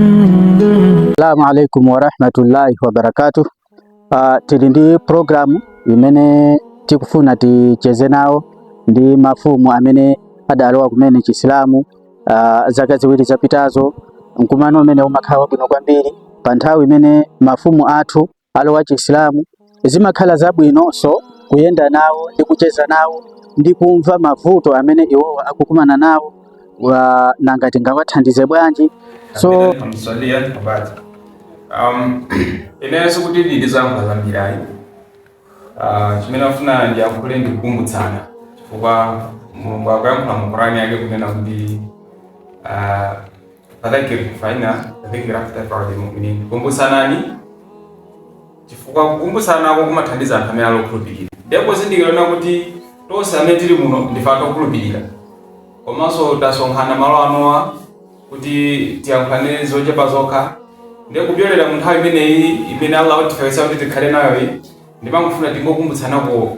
Assalamu alaikum warahmatullahi wabarakatuh. Uh, tili ndi programu imene tikufuna ticheze nawo ndi mafumu amene adalowa kumene Chisilamu uh, zaka ziwiri zapitazo. Mkumano umene umakhala wabwino kwambiri pa nthawi imene mafumu athu alowa Chisilamu, zimakhala zabwinonso kuyenda nawo ndi kucheza nawo ndi kumva mavuto amene iwowo akukumana nawo nanga tingawathandize bwanji so Kapena mswalia abati. Um, inenso kuti ndili ndi zanga zambiri ayi Ah, chimene ndafuna ndiyankhule ndikukumbutsana chifukwa mulungu akuyankhula mu korani yake kunena kuti ah, Fadhakir fa inna dhikra tanfa'ul mu'minin, kumbusanani chifukwa kukumbusanako kumathandiza anthu amene ali okhulupirira. Ndiye pozindikira kuti tonse amene tili muno ndife anthu okhulupirira komanso tasonkhana malo anowa kuti tiyankhulane zochepa zokha, ndiye kupyolera mu nthawi imeneyi imene Allah watifikitsa kuti tikhale nayoyi, ndimangofuna tingokumbutsanako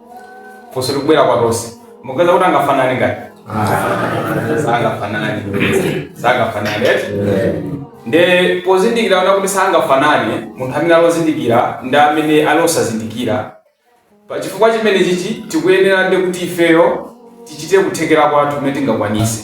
funso likubwera kwa tonse mukuyesa kuti angafanane ngati sangafanane sangafanane eti nde pozindikira ona kuti sangafanane munthu amene ali ozindikira ndi amene ali osazindikira pa chifukwa chimenechichi tikuyeneradi kuti ifeyo tichite kuthekera kwathu kumene tingakwanise